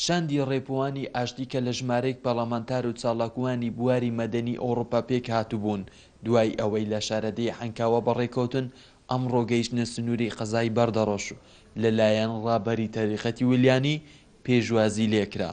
شاندی ڕێپوانی ئاشتی کە لە ژمارەیەک پەڕلەمانتار و چاڵاکوانی بواری مەدەنی ئەوڕوپا پێکهاتبوون دوای ئەوەی لە شارەدێی عەنکاوە بەڕێکەوتن ئەمڕۆ گەیشتنە سنوری قەزای بەردەڕەش و لە لایەن ڕابەری تەریقەتی ولیانی پێشوازی لێکرا.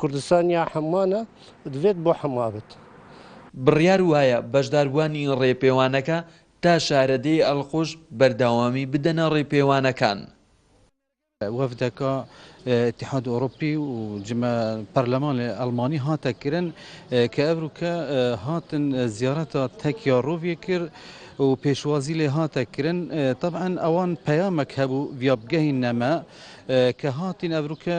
کوردستان یا حمانە دڤێت بۆ حمابت. بڕیار وایە بەشداربووانی ڕێپێوانەکە تا شارەدێی ئەلقوش بەردەوامی بدەنە ڕێپێوانەکان. وەفدەکە ئیتحاد ئۆڕۆپی و جمە پەرلەمانێ ئەڵمانی هاتە کرن ک ئەڤرووکە هاتن زیارەتا تەکیا ڕووێ کرد و پێشوازی لێ هاتە کرن تەبعەن ئەوان پەیامەک هەبوو ڤیاپ گەهی نەمە ک هاتین ئەڤرووکە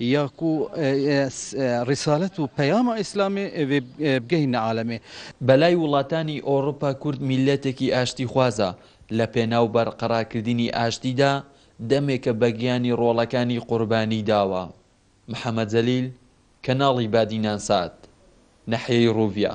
یا کو ریسالەت و پەیامە ئیسلامی ئێوێ بگەینە عالەمێ. بەلای وڵاتانی ئۆڕوپا کورد میللەتێکی ئاشتیخوازە، لەپێناو بەرقەراکردنی ئاشتیدا دەمێکە بەگیانی ڕۆڵەکانی قوربانی داوە. محەمەد جەلیل، کەناڵی بادینان سات، ناحیەی ڕوڤیا.